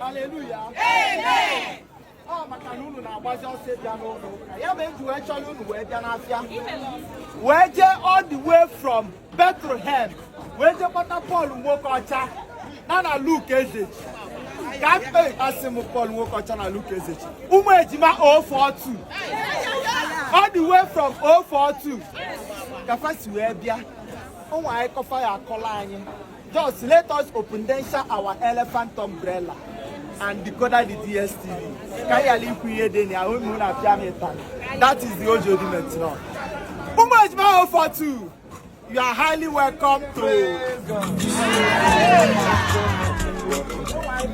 haleluya ọ maka na unu na-agbazi ọsọ bịa n'ụlọ ụka ya mere eji wee chọrọ unu wee bịa n'afịa wee jee all the way from Bethlehem wee jee kpọta Pọl Nwokocha na na Luk Ezeji ka mkpe asị m Pọl Nwokocha na Luk Ezeji ụmụ ejima 042 all the way from 042 ka fa si wee bịa ụmụ anyị kọfa ya akọla anyị Just let us open then share our elephant umbrella and decoder the DSTV. Ka ya li ku ye de ni awon mu na pia mi tan. That is the Ojodi Metro. Umu Ejima 042. You are highly welcome to.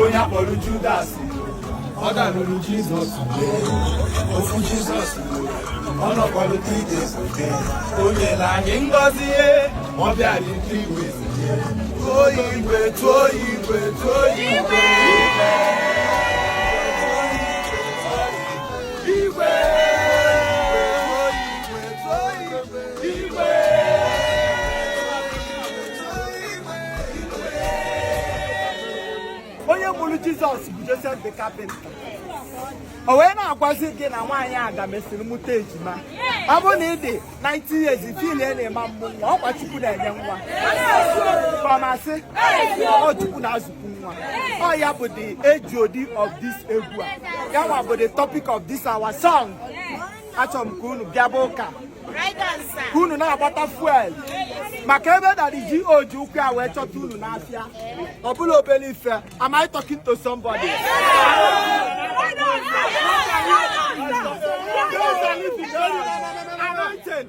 onye akpọrọ Judas ọ dalụrụ Jizọs ofu Jizọs ọ nọkwalụ three days o nyela anyị ngọzi ọ bịara three ways tụọ igwe tụọ igwe tụọ igwe onye mụrụ jizọs bụ josef the carpenter o wee na-agwazi gị na nwaanyị aga mesịrị mụta ejima ọ bụrụ na ị dị 90 years feel na ị ma amụ nwa ọ kwa chukwu na-enye nwa kọmasị ọ chukwu na-azụkwu nwa ọ ya bụ the HOD of this egwu a ya nwa bụ the topic of this our song achọrọ m ka unu bịaba ụka ka unu na-agbata fuel maka ebe daddy GO ji ụkwụ ya wee chọta unu n'afịa ọ bụla obere ife am I talking to somebody anointing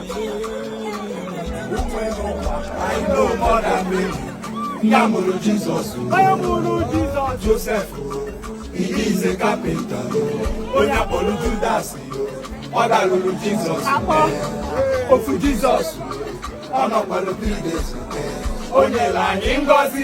ya mụrụ Jizọs Josef he is a carpenter onye akpọrọ Judas ọ dalụrụ Jizọs ofu Jizọs ọ nọkwara three days o nyela anyị ngọzi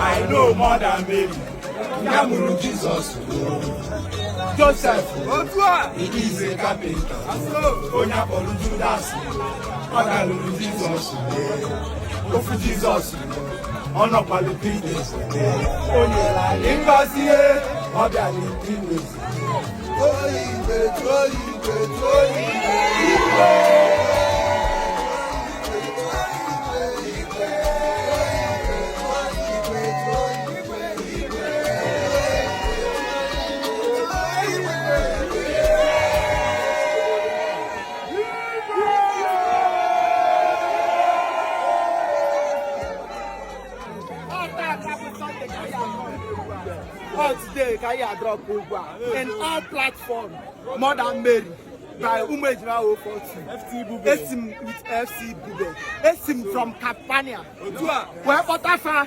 I know Mother Mary. Ya mụrụ Jizọs Josef he is a carpenter onye akpọrọ Judas ọ dalụrụ Jizọs ofu Jizọs ọ nọkwalụ di na-esote o nyere anyị ngọzi e, ọ bịara di na-esote Ọ today ka anyị drop egwu a in all platforms, more than Mary. by ụmụ ejima 042 esi m with fc bube esi m from campania wee kpọta fa